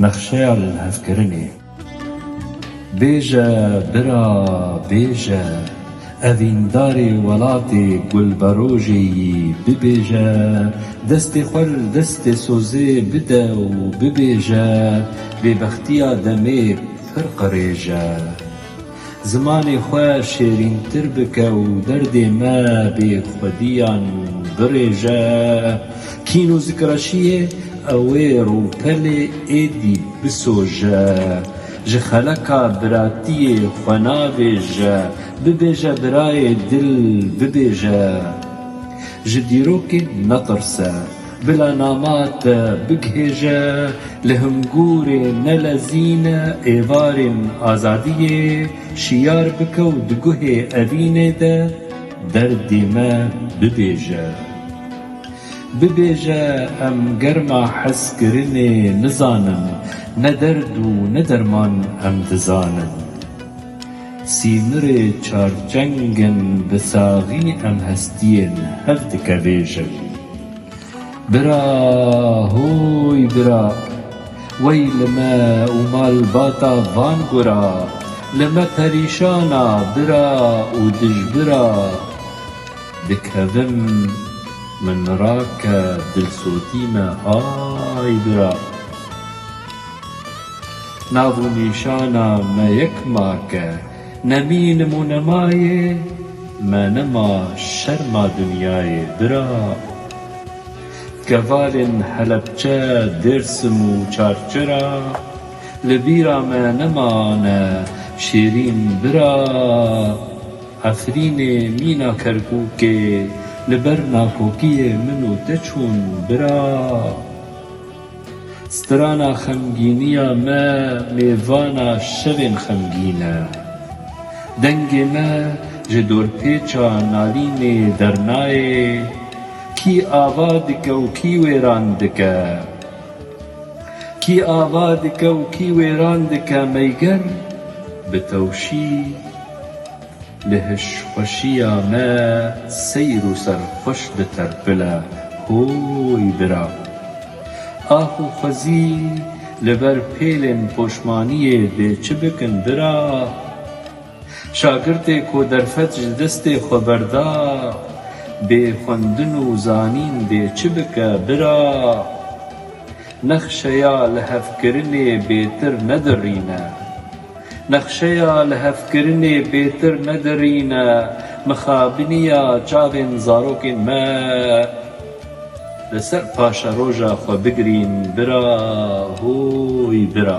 Nexşeya li hevkirinê. Bêje bira bêje, evîndarê welatê gulberojê yî bibêje, destê xwe li destê sozê bide û bibêje, bêbextiya demê pir qirêj e. Zimanê xwe şêrîntir bike û derdê me bê xwediyan birêje. Kîn û zikreşiyê ewê rûpelê êdî bisoje. Ji xeleka biratiyê xwe nabêje, bibêje birayê dil bibêje. Ji dîrokê netirse. Bila nama te bigihêje, li hingûrê nelezîn êvarên azadiyê şiyar bike û di guhê evînê de derdê me bibêje. Bibêje em germa hezkirinê nizanin, ne derd û ne derman em dizanin. Sînirê çarçengên bi saxî em hestiyên hev dike vê jew. Bira, hûy bira, wey li me û malbata van gura, li me perîşan a bira û dijbira, dikevim min rake dilsotî me hay bira. Nav û nîşana me yek make. Ne mînim û ne mayê, me ne ma şerma dinyayê bira. Kevalên Helepçe, Dêrsim û Çarçira, li bîra me ne mane şêrîn bira. Efrînê, mîna Kerkûkê, li ber nakokiyê min û te çûn bira. Strana xemgîniya me mêvana şevên xemgîn e. Dengê me ji dorpêça nalînê dernayê, kî ava dike û kî wêran dike? Kî ava dike û kî wêran dike meyger bi tewşî. Li hişxweşiya me seyr û serxweş diterpile Hooy bira! Axûxwezî li ber pêlên poşmaniyê dê çi bikin bira? Şagirtê ku derfet ji destê xwe berda Bê xwendin û zanîn dê çi bike bira? Nexşeya lihevkirinê bêtir nedirîne Nexşeya lihevkirinê bêtir nedirîne mixabiniya çavên zarokên me li ser paşeroja xwe bigirîn bira hûy bira.